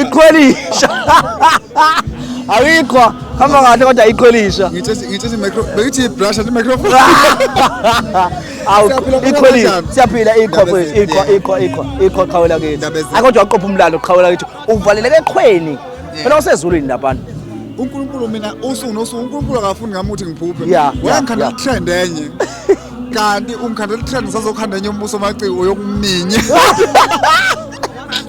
iqhwelisha ayikho hamba kahle kodwa iqhwelisha ngithi ibrasha ti microphone iqhwelisha siyaphila ikho kwethu ikho ikho ikho ikho qhawela kithi akodwa uqopha umlalo qhawela kithi uvaleleke eqhweni phela usezulwini labantu uNkulunkulu mina usuku nosuku uNkulunkulu akafuni ngami ukuthi ngiphuphe wayengikhandela itrend enye kanti ungikhandela itrend ngisazokhanda enye umbuso maciko yokuminya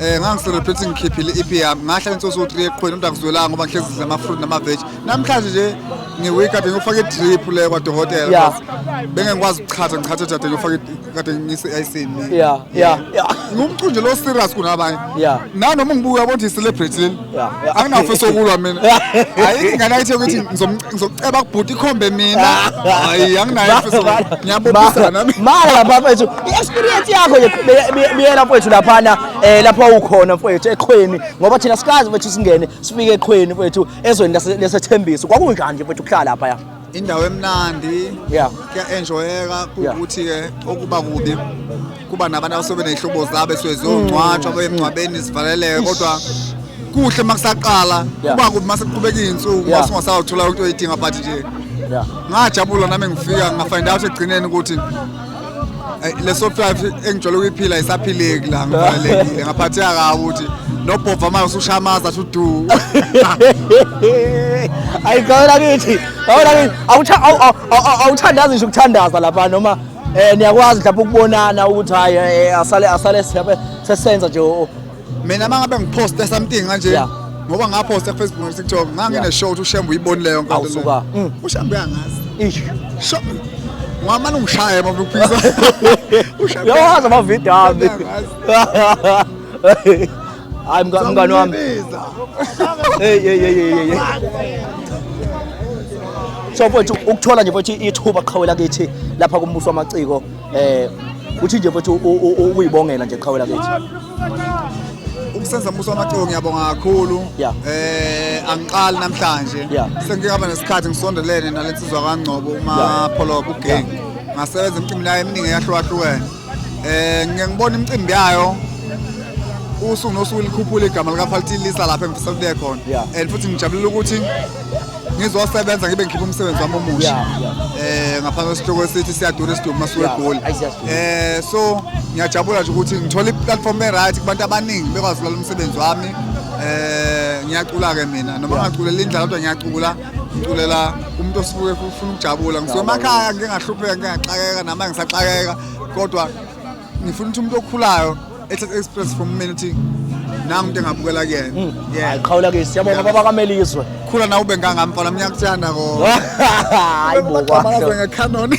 Eh ngangiselebrate ngikhiphile ipi yami ngahla insoso u3 eqhweni kodwa ngizwelanga ngoba ngihlezi ngidla ama fruit nama veg namhlanje nje ngiwake up ngifake idrip le kwadokotela Yeah. because bengeke ngikwazi ukuchatha ngichathe jade ngifake kade ngise ayisini Yeah, yeah, yeah. ngumqunje lo serious kunabanye Yeah. nanoma ngibuka ukuthi i celebrity leli anginafisa ukulwa mina hayi ingane ayithe ukuthi ngizokuceba kubhuti ikhombe mina hayi anginayifisaangiyabobisanamala bafethu i-experience yakho biyela mfowethu laphana um lapho wawukhona mfowethu eqhweni ngoba thina sikazi mfethu singene sifike eqhweni mfowethu ezweni lesethembiso kwakunjani nje mfowethu kuhlala laphaya indawo emnandi yeah kuya-enjoyeka kuwukuthi-ke okuba kubi kuba nabantu abasuke beney'hlobo zabo esuke ziyongcwatshwa mm. bemngcwabeni zivaleleke kodwa kuhle uma kusaqala kuba kubi uma sekuqhubeka iy'nsuku uma singasawuthola into oyidinga but nje ngajabula nami ngifika ngafind out ekugcineni ukuthi leso five engijole ukuyiphila isaphileki la ngivalekile ngaphatheka kabi ukuthi nobhova manje usushamaza athi udu ayi gawela kithi gawela kithi awuthandazi ngisho ukuthandaza lapha noma um niyakwazi mhlawumbe ukubonana ukuthi hhayi eh, asale asale sesenza nje mina uma ngabe ngiphoste something kanje Yeah. ngoba ngaphosta kufacebook nakutiktok ngangineshow ukuthi ushembe uyibonile leyo nkonto leyo. Awusuka. Mm. ushembe uyangazi Ish. Sho- ngamane ungishaye uma uphisa Ushembe Uyawazi amavidiyo ami. uyangazi. Hayi mga- mngani wami. Usambiza. Hey hey hey hey hey. So mfowethu ukuthola nje mfowethu ithuba qhawela kithi lapha kumbuso wamaciko eh uthi nje mfethu ukuyibongela nje qhawela kithi umsenza mbuso wamaciko ngiyabonga kakhulu Yeah. eh angiqali namhlanje Yeah. sengike ngaba nesikhathi ngisondelene nale nsizwa kangcobo umapholobo ugang ngasebenza imicimbi yayo eminingi eyahlukahlukene eh ngike ngibona imicimbi yayo usuku nosuku likhuphula igama likafaltilisa lapha engifisa kuliye khona Yeah. and futhi ngijabulela ukuthi ngizosebenza ngibe ngikhipha umsebenzi wami omusha eh ngaphansi kwesihloko esithi siyadura isidumbu masuke egoli eh so ngiyajabula nje ukuthi ngithola i-platform e-right kubantu abaningi bekwazi ukulalela umsebenzi wami eh ngiyacula-ke mina noma ngaculela indlala kodwa ngiyacula ngiculela umuntu osuke ufuna ukujabula ngisemakhaya ngingahlupheka ngingaxakeka nama ngisaxakeka kodwa ngifuna ukuthi umuntu okhulayo ethatha express from mina ukuthi nangu into engabukela kuyena hmm. hayi qhawula ke siyabonga baba kamelizwe khula nawe ube ngangami mfana mina ngiyakuthanda ko hayi bo kwa ngekhanoni